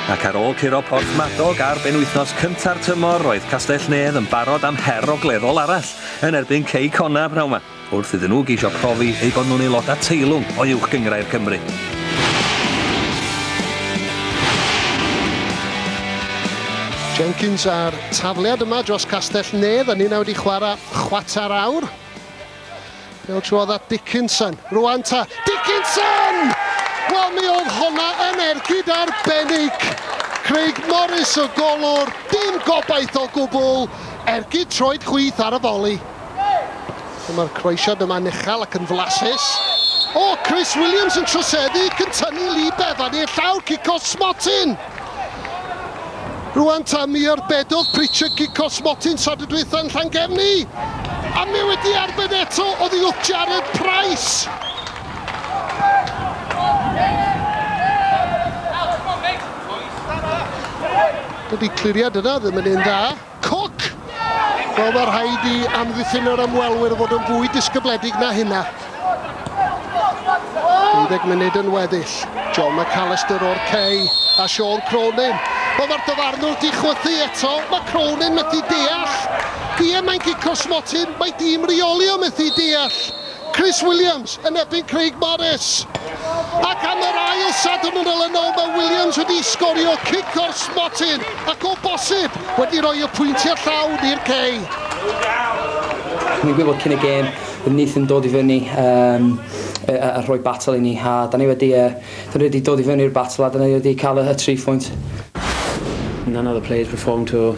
Ac ar ôl curo Porthmadog ar benwythnos cynta'r tymor, roedd Castell-nedd yn barod am her ogleddol arall yn erbyn Cei Connah pnawn 'ma, wrth iddyn nhw geisio profi eu bod nhw'n aelodau teilwng o Uwch Gynghrair Cymru. Jenkins a'r tafliad yma dros Castell-nedd a ninna wedi chwarae chwarter awr. Pêl trwodd at Dickinson. Rwan ta. Dickinson! Wel, mi oedd honna yn ergyd arbennig. Craig Morris o golwr, dim gobaith o gwbl. Ergyd troed chwith ar y foli. Dyma'r croesiad yma'n uchel ac yn flasus. O, Chris Williams yn troseddu, cyn tynnu Lee Bevan i'r llawr, cico smotyn! Rwan ta, mi arbedodd Pritchard gicos Motyn tradwy dwytha yn Llangefni! A mi wedi arbed eto oddi wrth Jared Price! Dydi cliriad yna ddim yn un dda. Cook! Wel, mae rhaid i amddiffyn yr ymwelwyr fod yn fwy disgybledig na hynna. 30 munud yn weddill. John McAllister o'r cei a Sean Cronin. Wel, mae'r dyfarnwr di chwythu eto. Mae Cronin methu deall. Ie, mae'n gico smotyn. Mae dîm reolio methu deall. Chris Williams yn erbyn Craig Morris. Ac am yr ail Sadwrn yn ol yn ol mae Williams wedi sgorio cic o'r smotyn ac o bosib wedi rhoi y pwyntiau llawn i'r Cei. O'n i'n gwybod cyn y gêm bod Neith yn dod i fyny um, a rhoi battle i ni a da ni wedi, uh, da ni wedi dod i fyny'r battle a da ni wedi cael y, y tri phwynt. None of the players performed to